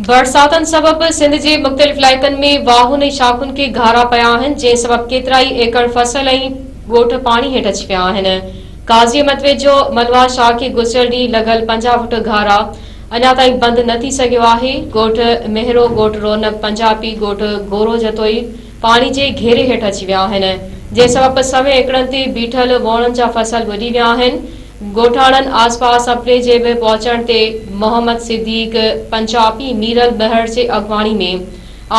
برساتن سبب سنڌ جي مختلف علائقن ۾ واهن ۽ شاخن کي گهارا پيا آهن جنهن سبب ڪيترائي ايڪڙ فصل ۽ ڳوٺ پاڻي هيٺ اچي پيا آهن قاضي احمد ويجهو ملواه شاهه کي گذريل ڏينهن لڳل پنجاهه فوٽ گهارا اڃا تائين بند نه ٿي سگهيو آهي ڳوٺ مهرو ڳوٺ رونق پنجاپي ڳوٺ گورو جتوئي پاڻي جي گهيري هيٺ اچي ويا آهن، جنهن سبب سوين ايڪڙن تي بيٺل ووڻن جا فصل ٻڏي ويا آهن، ڳوٺاڻن آس پاس سپري جي به پهچڻ تي محمد صديق پنجاپي ميرل ٻهڙ جي اڳواڻي ۾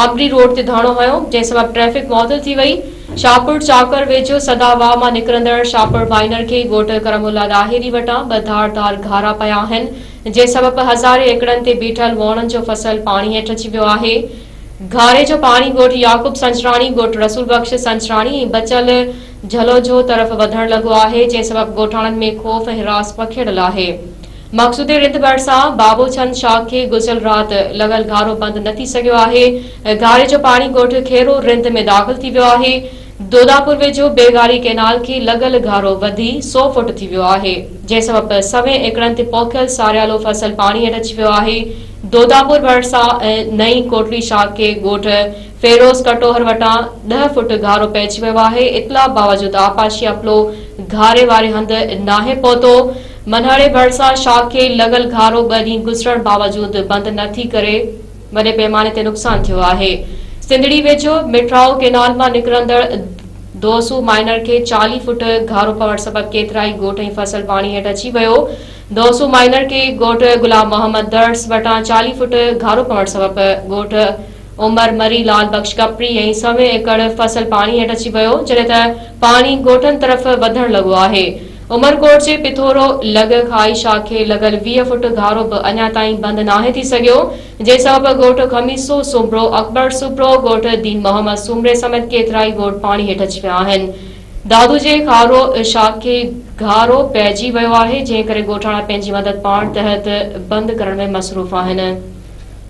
آمري روڊ تي ڌرڻو هنيو، جنهن سبب ٽريفڪ معطل ٿي وئي، شاهپور چاڪر ويجهو سدا واهه مان نڪرندڙ شاهپور مائينر کي ڳوٺ ڪرم الله ڏاهري وٽان ٻه ڌار ڌار گهارا پيا آهن، جنهن سبب هزارين ايڪڙن تي بيٺل ووڻن جو فصل پاڻي هيٺ اچي ويو آهي. گهاري جو پاڻي ڳوٺ يعقوب سنجراڻي، ڳوٺ رسول بخش سنجراڻي ۽ بچل جهلوجهو طرف وڌڻ لڳو آهي، جنهن سبب ڳوٺاڻن ۾ خوف ۽ حراس پکيڙيل آهي. مقصودي رند ڀرسان بابو ڇند شاخ کي گذريل رات لڳل گهارو بند نه ٿي سگهيو آهي. گهاري جو پاڻي ڳوٺ کيرو رند ۾ داخل ٿي ويو آهي. دوداپور ويجهو بيگاري ڪئنال کي لڳل گهارو وڌي سؤ فوٽ ٿي ويو آهي. جنهن سبب سوين ايڪڙن تي پوکيل ساريالو فصل پاڻي هيٺ اچي ويو آهي. دوداپور ڀرسان ۽ نئين ڪوٽڙي شاخي ڳوٺ فيروز ڪٽوهر وٽان ڏهه فوٽ گهارو پئجي ويو آهي، اطلاع باوجود آبپاشي عملو گهاري واري هنڌ ناهي پهتو، منهڙي ڀرسان شاخي لڳل گهارو ٻه ڏينهن گذرڻ باوجود بند نه ٿي ڪري وڏي پيماني تي نقصان ٿيو آهي، سنڌڙي ويجهو مٺرائو ڪينال مان نڪرندڙ دوسو مائنر کي چاليهه فوٽ گهارو پوڻ سبب ڪيترائي ڳوٺ ۽ فصل پاڻي هيٺ اچي ويو، دوسو مائنر کي ڳوٺ غلام محمد درس وٽان چاليهه فوٽ گهارو پوڻ سبب ڳوٺ عمر مري لال بخش ڪپڙي ۽ سوين ايڪڙ فصل پاڻي هيٺ اچي ويو جڏهن ته پاڻي ڳوٺن طرف وڌڻ لڳو آهي عمرڪوٽ جي پٿورو لڳ کائي شاخ کي لڳل ويهه فوٽ گهارو به اڃا تائين بند ناهي ٿي سگهيو جنهن سبب ڳوٺ خميسو سومرو اڪبر سومرو ڳوٺ دين محمد سومري سميت ڪيترائي ڳوٺ پاڻي هيٺ اچي ويا آهن دادو جي خارو شاخ کي گهارو پئجي ويو آهي، جنهن ڪري ڳوٺاڻا پنهنجي مدد پاڻ تحت بند ڪرڻ ۾ مصروف آهن.